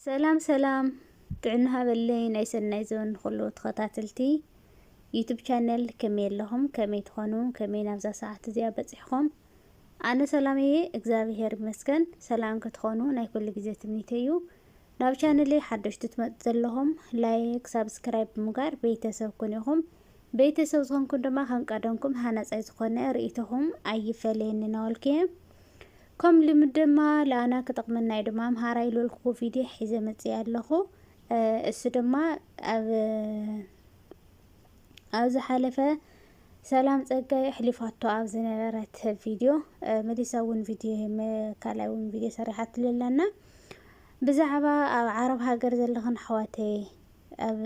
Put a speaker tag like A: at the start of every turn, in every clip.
A: ሰላም ሰላም ጥዕና ሃበለይ ናይ ሰናይ ዘበን ንኩሉ ተኸታተልቲ ዩቱብ ቻነል ከመይ ኣለኹም ከመይ ትኾኑ ከመይ ናብዛ ሰዓት እዚኣ በፂሕኹም ኣነ ሰላም እየ እግዚኣብሄር ይመስገን ሰላም ክትኾኑ ናይ ኩሉ ግዜ ትምኒተይ እዩ ናብ ቻነለይ ሓደሽቲ ትመፁ ዘለኹም ላይክ ሳብስክራይብ ብምግባር ቤተሰብ ኩኑ ኢኹም ቤተሰብ ዝኾንኩም ድማ ከም ቀደምኩም ሃናፃይ ዝኾነ ርእይቶኹም ኣይፈለየኒ ናወልክየ ከም ልምድ ድማ ለኣና ክጠቕመና እዩ ድማ ኣምሃራይ ልልኩ ቪድዮ ሒዘ መፅእ ኣለኹ እሱ ድማ ኣብ ኣብ ዝሓለፈ ሰላም ጸጋይ ኣሕሊፋቶ ኣብ ዝነበረት ቪድዮ መሊሳ እውን ቪድዮ ካልኣይ እውን ቪድዮ ሰሪሓትሉ ኣለና ብዛዕባ ኣብ ዓረብ ሃገር ዘለኽን ኣሕዋተይ ኣብ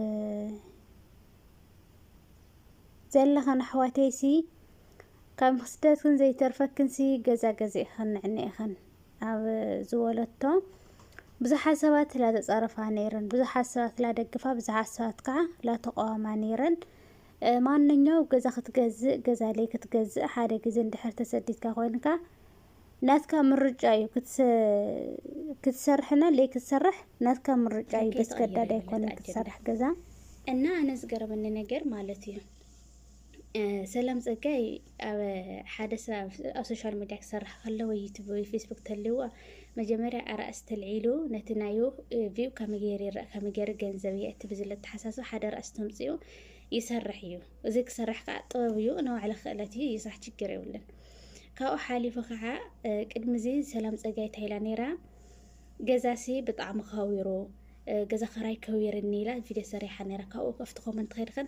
A: ዘለኽን ኣሕዋተይሲ ካብ ስደትክን ዘይተርፈክንሲ ገዛ ገዚእኽን ንዕኒ ኢኽን ኣብ ዝበለቶ ብዙሓት ሰባት ላተጻረፋ ነይረን፣ ብዙሓት ሰባት ላደግፋ፣ ብዙሓት ሰባት ከዓ ላተቋዋማ ነይረን። ማንኛው ገዛ ክትገዝእ ገዛ ለይ ክትገዝእ ሓደ ግዜ እንድሕር ተሰዲድካ ኮይንካ ናትካ ምርጫ እዩ ክትሰርሕና ለይ ክትሰርሕ ናትካ ምርጫ እዩ። በስገዳድ ኣይኮነን ክትሰርሕ ገዛ እና ኣነ ዝገረመኒ ነገር ማለት እዩ ሰላም ጸጋይ ኣብ ሓደ ሰብ ኣብ ሶሻል ሚድያ ክሰርሕ ከሎ ወይ ዩቱብ ወይ ፌስቡክ ተልዎ መጀመርያ ኣራእስ ተልዒሉ ነቲ ናዩ ቪው ከመይ ገይሩ ይረእ ከመይ ገይሩ ገንዘብ የእቲ ብዝለ ተሓሳስብ ሓደ ራእስ ተምፅኡ ይሰርሕ እዩ እዚ ክሰርሕ ከዓ ጥበብ እዩ ንባዕለ ክእለት እዩ ይስራሕ ችግር የብልን ካብኡ ሓሊፉ ከዓ ቅድሚ እዚ ሰላም ጸጋይ ታይላ ነይራ ገዛሲ ብጣዕሚ ከዊሩ ገዛ ከራይ ከዊርኒ ኢላ ቪድዮ ሰሪሓ ነይራ ካብኡ ኣብቲ ኮመንት ከይድኸን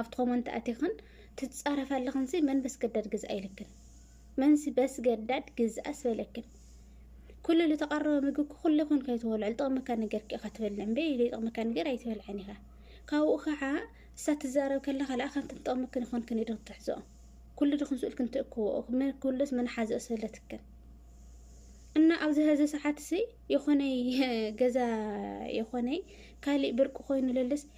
A: ኣብቲ ኮመንት ኣቲኽን ትጻረፍ ኣለኽንሲ መን በስገዳድ ግዝኣ ኢልክን መንሲ በስገዳድ ግዝኣስ በለክን ኩሉ ዝተቐረበ ምግቢ ኩሉ ይኹን ከይትበልዑ ዝጠቕመካ ነገር ኪ ኢኻ ትበልዕ እምበይ ዘይጠቕመካ ነገር ኣይትበልዐን ኢኻ ካብኡ ከዓ እሳ ትዛረብ ከላ ካልኣ ከምቲ ትጠቕመክን ይኾንክን ኢዶ ትሕዝኦ ኩሉ ድኹም ስእልክን ትእክብኦ ኩሉስ መን ሓዘኦ ስእለትክን እና ኣብዚ ሀዚ ሰዓት ሲ የኾነይ ገዛ የኾነይ ካሊእ ብርቂ ኮይኑ ለልስ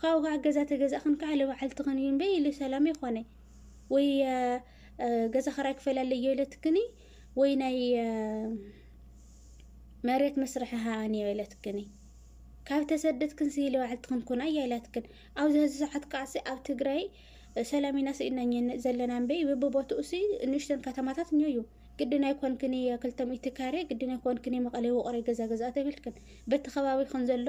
A: ካብኡ ከዓ ገዛ ተገዛእኽን ከዓ ልባዕልትኽን እዩ እምበይ ኢሉ ሰላም ይኾነ ወይ ገዛ ክራይ ክፈል ኣለዮ ኢለትክኒ ወይ ናይ መሬት መስርሒ ሃኣን እዮ ኢለትክኒ ካብ ተሰደትክን ሲ ልባዕልትኽን ኩና እያ ኢላትክን ኣብዚ ህዚ ሰዓት ከዓሲ ኣብ ትግራይ ሰላም ኢና ስኢና ዘለና እምበይ ብቦትኡ ሲ ንእሽተን ከተማታት እኞ እዩ ግድን ኣይኮንክን ክልተ ሚእቲ ካሬ ግድን ኣይኮንክን መቐለ ውቕረ ገዛ ገዛ ተብልክን በቲ ከባቢኽን ዘሎ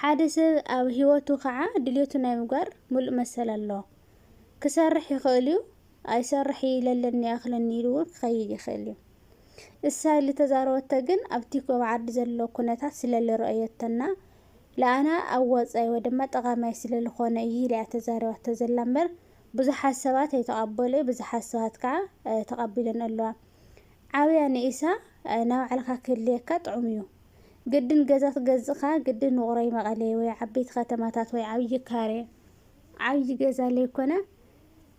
A: ሓደ ሰብ ኣብ ሂወቱ ካዓ ድልየቱ ናይ ምግባር ሙሉእ መሰል ኣለዎ። ክሰርሕ ይኽእል እዩ ኣይሰርሕ እይ ለለኒ ይኣኽለኒ ኢሉ እውን ክኸይድ ይኽእል እዩ። እሳ ኢሊ ተዛረበቶ ግን ኣብቲ ኮብ ዓዲ ዘሎ ኩነታት ስለ ልረኦዮቶ እና ልኣና ኣብ ወፃኢ ወይ ድማ ጠቓማይ ስለ ልኾነ እይ ኢላ እያ ተዛሪባቶ ዘላ እምበር ብዙሓት ሰባት ኣይተቐበሉ እይ ብዙሓት ሰባት ካዓ ተቐቢለን ኣለዋ። ዓብያ ንኢሳ ናባዕልኻ ክህልየካ ጥዑም እዩ። ግድን ገዛ ትገዝእኻ ግድን ውቕሮይ መቐሌ ወይ ዓበይቲ ከተማታት ወይ ዓብዪ ካሬ ዓብዪ ገዛ ለይኮነ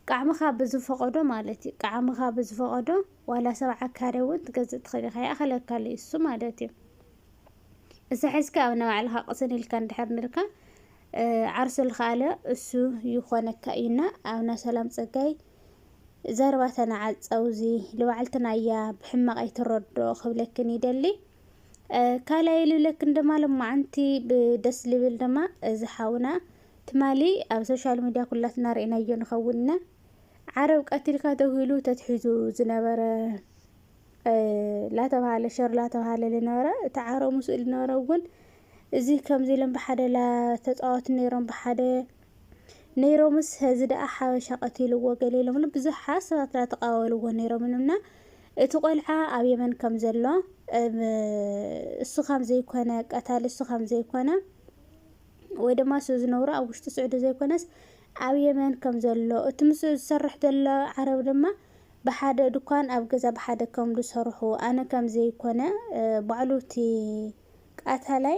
A: ቃዕምኻ ብዝፈቐዶ ማለት እዩ ቃዕምኻ ብዝፈቐዶ ዋላ ሰብዓ ካሬ እውን ትገዝእ ትኽእል ኢኻ ይኣኽለካ እዩ እሱ ማለት እዩ እዛ ሒዝካ ኣብ ናባዕልኻ ቅስን ኢልካ እንድሕር ንልካ ዓርሱ ልኸኣለ እሱ ይኾነካ እዩና ኣብና ሰላም ፀጋይ ዘረባ ተናዓፀው እዚ ልባዕልትና እያ ብሕማቕ ኣይትረድኦ ክብለክን ይደሊ ካልኣይ ልብለክን ድማ ሎማዓንቲ ብደስ ልብል ድማ እዚ ሓውና ትማሊ ኣብ ሶሻል ሚድያ ኩላትና ርኢናዮ ንኸውን ኢና ዓረብ ቀቲልካ ተብሂሉ ተትሒዙ ዝነበረ ላተብሃለ ሸር ላተብሃለ ዝነበረ እቲ ዓረብ ምስኡ ዝነበረ እውን እዚ ከምዚ ኢሎም ብሓደ ላተፃወቱ ነይሮም ብሓደ ነይሮምስ ሀዚ ደኣ ሓበሻ ቀቲልዎ ገለ ኢሎምሉ ብዙሓት ሰባት ደኣ ተቓወልዎ ነይሮም ኢሉና እቲ ቆልዓ ኣብ የመን ከም ዘሎ እሱ ከም ዘይኮነ ቀታሊ እሱ ከም ዘይኮነ ወይ ድማ እሱ ዝነብሮ ኣብ ውሽጢ ስዑዲ ዘይኮነስ ኣብ የመን ከም ዘሎ እቲ ምስኡ ዝሰርሕ ዘሎ ዓረብ ድማ ብሓደ ድኳን ኣብ ገዛ ብሓደ ከም ዝሰርሑ ኣነ ከም ዘይኮነ ባዕሉ እቲ ቀታላይ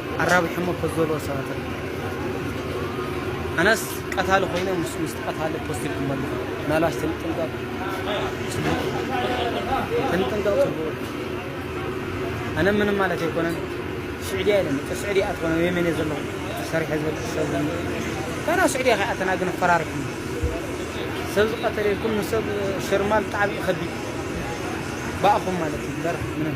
A: ኣራቢሖሞ ከዘልዎ ሰባት ኣለዉ ኣነስ ቀታሊ ኮይነ ምስ ምስቲ ቀታሊ ፖስት ኢልኩሞ ኣለኹ ምናልባሽ ትንጥንቀቁ ትንጥንቀቁ ጽቡቅ ኣነ ምንም ማለት ኣይኮነን ስዑድያ ኢለ መጠ ስዑድያ ኣትኾነ ወይ መን ዘለኹ ሰሪሐ ዝበልኩ ሰብ ካና ስዑድያ ከይኣተና ግን ፈራሪሕና ሰብ ዝቀተለ ኢልኩም ንሰብ ሽርማል ጣዕሚ ከቢድ ባእኹም ማለት እዩ ምበር ምንም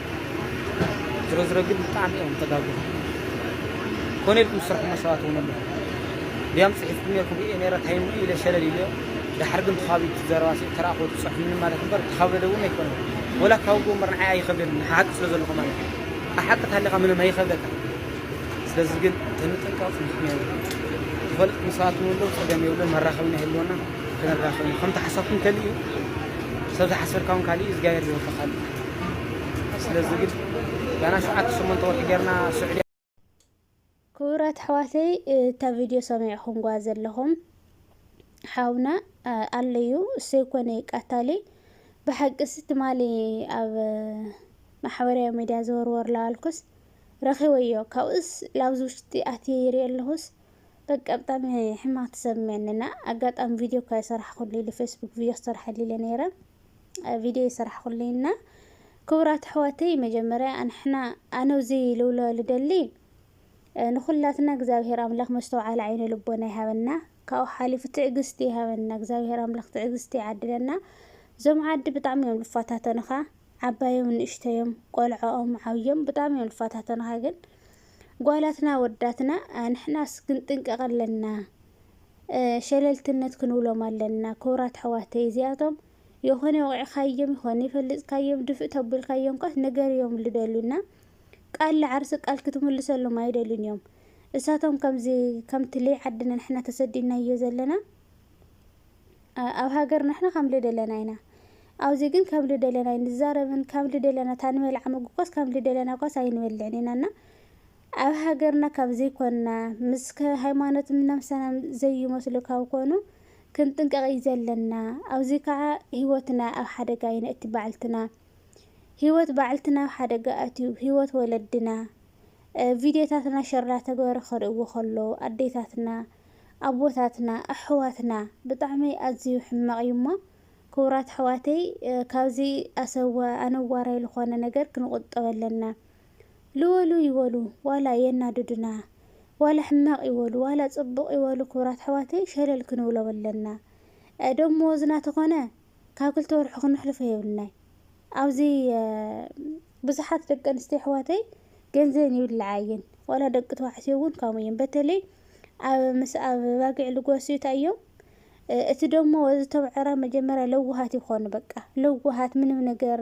A: ዝሮዝሮ ግን ብጣዕሚ እዮም ተጋግኹ ኮነ ኢልኩም ዝስርሕሞ ሰባት እውን ኣለኹ ድያም ፅሒፍኩም ነርኩም እየ ነረ ታይም ኢለ ሸለል ኢለ ድሓር ግን ተኻቢ ዘረባ ተረኣኹ ትፅሕፍኒ ማለት እምበር ተኻበደ እውን ኣይኮነ ወላ ካብ ጎ እምበር ንዓይ ኣይኸብደኒ ሓቂ ስለ ዘለኹ ማለት እዩ ኣሓቂ ታሊኻ ምንም ኣይኸብደካ ስለዚ ግን ተንጥንቀቕ ምክንያት ትፈልጥ ምሳት ንብሎ ፀገም የብሎ መራኸብና የህልወና ከነራኸብና ከምቲ ሓሳብኩም ከሊእ እዩ ሰብ ዝሓሰርካ እውን ካሊእ እዩ እግዚኣብሔር ዝወፈኻሉ ስለዚ ግን ጋና ሸውዓተ ሸሞንተ ወርሒ ጌርና ስዑድያ ክቡራት ኣሕዋተይ እታ ቪድዮ ሰሚዕኹምጓ ዘለኹም ሓውና ኣለዩ እሰይ ኮነ ቃታሊ ብሓቂስ ትማሊ ኣብ ማሕበራዊ ሚድያ ዘወርወር ላባልኩስ ረኺበዮ ካብኡስ ላብዚ ውሽጢ ኣትየ ይሪኦ ኣለኹስ በቃ ብጣዕሚ ሕማቅ ተሰሚዕንና ኣጋጣሚ ቪድዮ እኳ የሰራሕኩሉ ኢሉ ፌስቡክ ቪድዮ ክሰርሐሉ ኢለ ነይረ ቪድዮ ይሰራሕኹልይ እና ክቡራት ኣሕዋተይ መጀመርያ ኣንሕና ኣነ እዙይ ልብሎ ልደሊ ንኹላትና እግዚኣብሔር ኣምላኽ መስተውዓሊ ዓይነ ልቦና ይሃበና ካብኡ ሓሊፉ ትዕግስቲ ይሃበና እግዚኣብሔር ኣምላኽ ትዕግስቲ ይዓድለና እዞም ዓዲ ብጣዕሚ እዮም ልፋታተኑኻ ዓባዮም ንእሽተዮም ቆልዖኦም ዓብዮም ብጣዕሚ እዮም ልፋታተኑኻ ግን ጓላትና ወዳትና ኣንሕናስ ግን ጥንቀቕ ኣለና ሸለልትነት ክንብሎም ኣለና ኩብራት ኣሕዋተይ እዚኣቶም የኮነ ወቂዕካዮም ይኮነ ይፈልጥካዮም ድፍእ ተብልካዮም ከኣ ንገርዮም ልደልዩ እና ቃል ልዓርሲ ቃል ክትምልሰሎም ኣይደልዩን እዮም እሳቶም ከምዚ ከምቲ ለይ ዓድና ንሕና ተሰዲድናዮ ዘለና ኣብ ሃገር ንሕና ከም ልደለና ኢና ኣብዚ ግን ከም ልደለና ኣይንዛረብን ከም ልደለና ታንበልዓ ምግኳስ ከም ልደለና ኳስ ኣይንበልዕን ኢና እና ኣብ ሃገርና ካብ ዘይኮና ምስ ሃይማኖትም ነብሰናም ዘይመስሉ ካብ ኮኑ ክንጥንቀቅ እዩ ዘለና ኣዚ ካኣ ሂወትና ኣብ ሓደጋ ይነእቲ ባዕልትና ሂወት ባዕልትና ኣብ ሓደጋ ኣትዩ ሂወት ወለድና ቪድዮታትና ሸር ዳተገበረ ክርእዎ ከሎ ኣዴታትና ኣቦታትና ኣሕዋትና ብጣዕሚ ኣዝዩ ሕማቅ እዩ እሞ ክቡራት ኣሕዋተይ ካብዚ ኣሰወ ኣነዋራይ ልኾነ ነገር ክንቁጠብ ኣለና። ልወሉ ይበሉ ዋላ የናድዱና ዋላ ሕማቅ ይበሉ ዋላ ጽቡቅ ይበሉ ክብራት ኣሕዋተይ ሸለል ክንብሎም ኣለና ደሞወዝና ተኮነ ካብ ክልተ ወርሑ ክነሕልፎ የብልናይ ኣብዚ ብዙሓት ደቂ ኣንስትዮ ኣሕዋተይ ገንዘን ይብልዓ እየን ዋላ ደቂ ተባዕትዮ እውን ከምኡ እዮም በተለይ ኣብ ምስ ኣብ ባጊዕ ልጓስዩ እንታይ እዮም እቲ ደሞወዝ እቶም ዕረ መጀመርያ ለዋሃት ይኮኑ በቃ ለዋሃት ምንም ነገር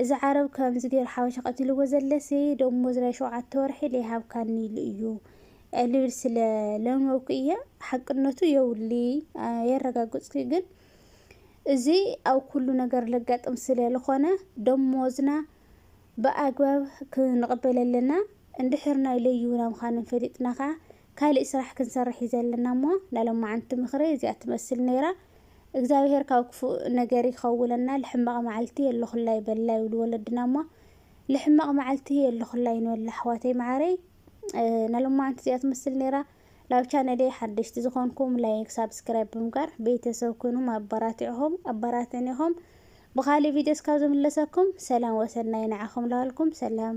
A: እዚ ዓረብ ከምዚ ጌሩ ሓበሻ ቀቲልዎ ዘለሲ ደሞዝ ናይ ሸውዓተ ወርሒ ለይሃብካኒ ኢሉ እዩ ልብል ስለ ለመብኩ እየ ሓቅነቱ የውሊ የረጋግጽኩ ግን እዚ ኣብ ኩሉ ነገር ለጋጥም ስለ ልኾነ ደሞዝና ብኣግባብ ክንቕበል ኣለና እንድሕር ናይ ለይሁና ምዃኖም ፈሊጥና ከኣ ካልእ ስራሕ ክንሰርሕ እዩ ዘለና እሞ ናይ ለማዓንቲ ምኽረይ እዚኣ ትመስል ነይራ። እግዛብሄር ካብ ክፉእ ነገር ይኸውለና ልሕማቕ ማዓልቲ የለኹላይ በላ ይብሉ ወለድና እሞ ልሕማቕ ማዓልቲ የለኹላይ ንበል ኣሕዋተይ ማዓረይ ነሎማዓንቲ እዚኣ ትመስል ነይራ ላብ ቻነለይ ሓደሽቲ ዝኾንኩም ላይክ ሳብስክራይብ ብምጋር ቤተሰብ ኩኑም ኣባራቲዕኹም ኣባራትዕኒኹም ብኻሊእ ቪድዮ እስካብ ዝምለሰኩም ሰላም ወሰናይ ንዓኹም ላበልኩም ሰላም